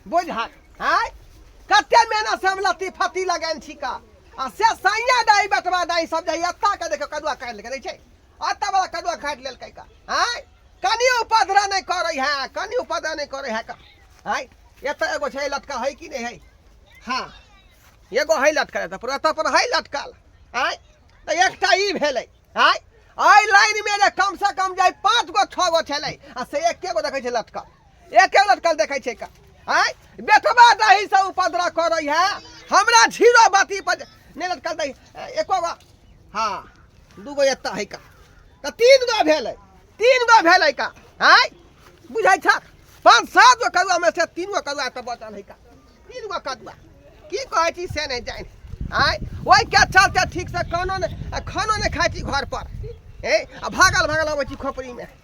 बुझा आय कते मेहनत से हम लत्ती फत्ती लगेन छिका आ से सैया दाई बटवा दाई सब जाई अत्ता के देखो कदुआ काट लेके दै छै अत्ता वाला कदुआ काट लेल कै का आय कनी उपद्रा नहीं करे है कनी उपद्रा नहीं करे है का आय एत एगो छै लटका है कि नहीं है हाँ एगो है लटकल एत पर एत पर है लटकल आय तो एकटा ई भेलै आय आय लाइन में जे कम से कम जाई पाँच गो छः गो छलै आ से एके गो देखै छै लटकल एके लटकल देखै छै का आय बेटवा दही से उपद्रव करै है हमरा झीरो बाती पर नहि लटकल दही एको गो हाँ दूगो एतऽ है का तऽ तीन गो भेलै तीन गो भेलै का आय बुझै छ पाँच सात गो करुआ में से तीन गो करुआ तऽ बचल है का तीन गो करुआ की कहै छी से नहि जानि आय ओहि के चलते ठीक से कोनो नहि आ खानो नहि खाइ छी घर पर ए आ भागल भागल अबै छी खोपड़ी में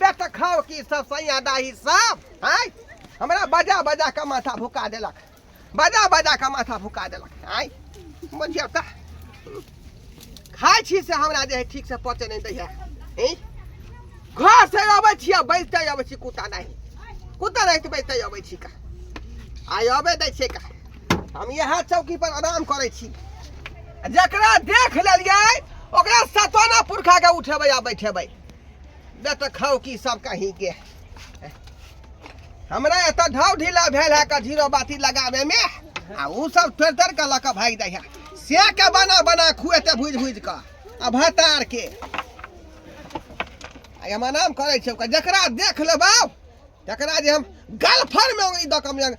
बे तऽ खाओ की सब सैया दाही सब आय हमरा बजा बजा के माथा भुका देलक बजा बजा के माथा भुका देलक आय बुझियौ तऽ खाइ छी से हमरा जे है ठीक से पचे नहीं दैया ई? घर से अबै छी आ बैठते अबै छी कुत्ता नहीं कुत्ता नहीं तऽ बैठते अबै छी का आय अबै दै छै का हम यहाँ चौकी पर आराम करै छी जकरा देख लेलियै ओकरा सतोना पुरखा के उठेबै आ बैठेबै तऽ खाउ की सब कहीं के हमरा एतऽ ढाव ढीला भेल है का झीरो बाती लगावे में आ ऊ सब थोड़ थोड़ के लऽ के भागि जाइ है से के बना बना खुएते भुज भुज के आ भतार के आ एमा नाम करै छै ओकर जकरा देख लेबौ तकरा जे हम गलफर में ई दऽ के हम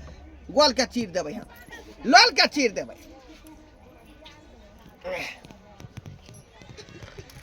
गोल के चीर देबै हम लोल के चीर देबै